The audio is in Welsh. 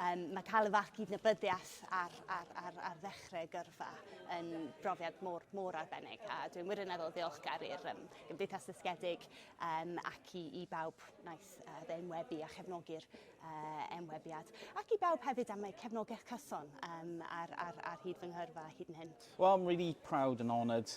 Um, mae cael y fath gydnabyddiaeth ar, ar, ar, ar ddechrau gyrfa yn brofiad mor, mor arbennig a dwi'n wirioneddol ddiolchgar i'r um, Gymdeithas Ddysgedig um, ac i, i bawb wnaeth uh, ddeunwebu a chefnogi'r uh, enwebiad ac i bawb hefyd am eu cefnogaeth cyson um, ar, ar, ar hyd fy nghyrfa hyd yn hyn. Well, I'm really proud and honoured